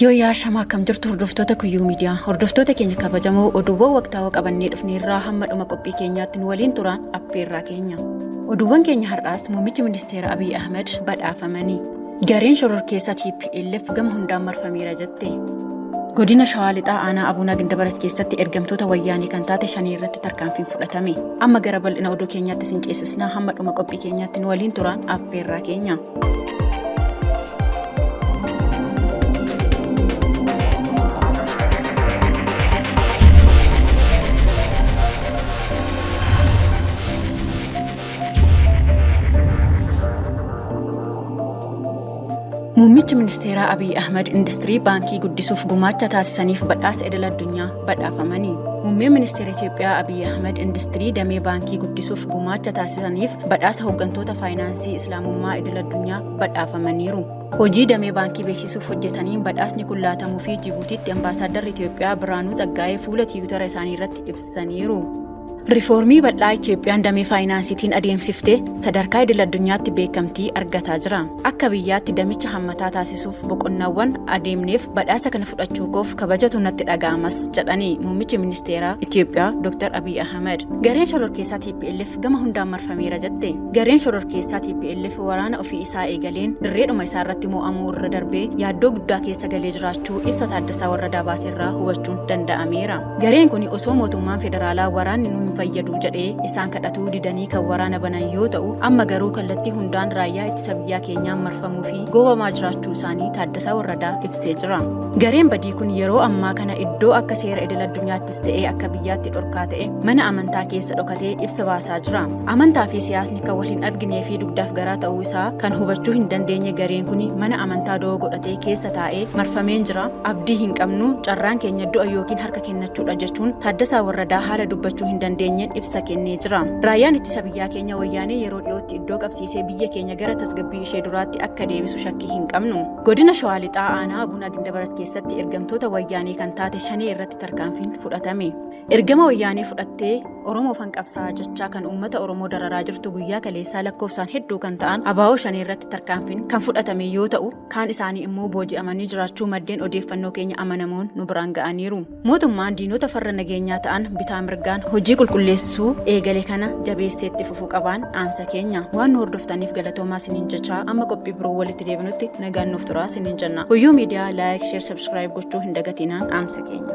Yoo yaa shamaa akkam jirtu hordoftoota kuyyuu miidiyaa hordoftoota keenya kabajamoo oduuwwan waqtaawaa qabannee dhufneerraa hamma dhuma qophii keenyaatti nu waliin turaan affeerraa keenya. Oduuwwan keenya har'aas muummichi ministeera Abiy Ahmed badhaafamanii. Gareen shororkeessaa TPLF gama hundaan marfameera jette. Godina Shawaa Lixaa aanaa Abuunaa Gindabarat keessatti ergamtoota wayyaanii kan taate shanii irratti tarkaanfiin fudhatame. Amma gara bal'ina oduu keenyaatti sin ceesisnaa hamma dhuma qophii keenyaatti nu waliin turaan affeerraa keenya. Muummichi Ministeeraa Abiy Ahimad Industirii Baankii guddisuuf gumaacha taasisaniif badhaasa idil addunyaa badhaafamani. Muummeen Ministeera Itiyoophiyaa Abiy Ahimad Industirii damee baankii guddisuuf gumaacha taasisaniif badhaasa hooggantoota faayinaansii Islaamummaa idil addunyaa badhaafamaniiru. Hojii damee baankii beeksisuuf hojjetaniin badhaasni kun laatamuu fi Jibuutiitti ambaasaaddarri Itoophiyaa Birhaanuu Tsaggaayee fuula tiwutara isaanii irratti ibsaniiru. Rifoormii bal'aa Itoophiyaan damee faayinaansiitiin adeemsifte sadarkaa idil addunyaatti beekamtii argataa jira. Akka biyyaatti damicha hammataa taasisuuf boqonnaawwan adeemneef badhaasa kana fudhachuu koof kabajatu natti dhaga'amas jedhani muummichi ministeeraa Itoophiyaa Dr. Abiy Ahmed. Gareen shororkeessaa TPLF gama hundaan marfameera jette. Gareen shororkeessaa TPLF waraana ofii isaa eegaleen dirreedhuma isaa irratti mo'amuu irra darbee yaaddoo guddaa keessa galee jiraachuu ibsa Taaddasaa Warradaa baase irraa hubachuun danda'ameera. Gareen kun osoo mootummaan federaalaa waraanni nu hin fayyadu jedhee isaan kadhatuu didanii kan waraana banan yoo ta'u amma garuu kallattii hundaan raayyaa ittisa biyyaa keenyaan marfamuu fi goobamaa jiraachuu isaanii Taaddasaa Warradaa ibsee jira. Gareen badii kun yeroo ammaa kana iddoo akka seera idil addunyaatti ta'ee akka biyyaatti dhorkaa ta'e mana amantaa keessa dhokatee ibsa baasaa jira. Amantaa fi siyaasni kan wal hin arginee fi dugdaaf garaa ta'uu isaa kan hubachuu hin dandeenye gareen kun mana amantaa doo godhatee keessa taa'ee marfameen jira. Abdii hin qabnu carraan keenya du'a yookiin harka kennachuudha jechuun Taaddasaa Warradaa haala dubbachuu hin dandeenyeen ibsa kennee jira. Raayyaan ittisa biyyaa keenya wayyaanee yeroo dhiyootti iddoo qabsiisee biyya keenya gara tasgabbii ishee duraatti akka deebisu shakkii hin qabnu. Godina Shawaa Lixaa Aanaa Abuna Gindabarat keessatti ergamtoota wayyaanee kan taate shanee irratti tarkaanfiin fudhatame. Ergama wayyaanee fudhattee Oromoo fan qabsaa jechaa kan uummata Oromoo dararaa jirtu guyyaa kaleessaa lakkoofsaan hedduu kan ta'an abaa'oo shanee irratti tarkaanfiin kan fudhatame yoo ta'u kaan isaanii immoo booji'amanii jiraachuu maddeen odeeffannoo keenya amanamoon nu biraan ga'aniiru. Mootummaan diinota farra nageenyaa ta'an bitaa mirgaan hojii qulqulleessuu eegale kana jabeessee itti fufuu qabaan dhaamsa keenya waan nu hordoftaniif galatoomaa siniin jechaa amma qophii biroo walitti deebinutti nagaan nuuf turaa siniin jenna. Guyyuu miidiyaa laayik, sheer, sabskiraayib gochuu hin dagatinaan dhaamsa keenya.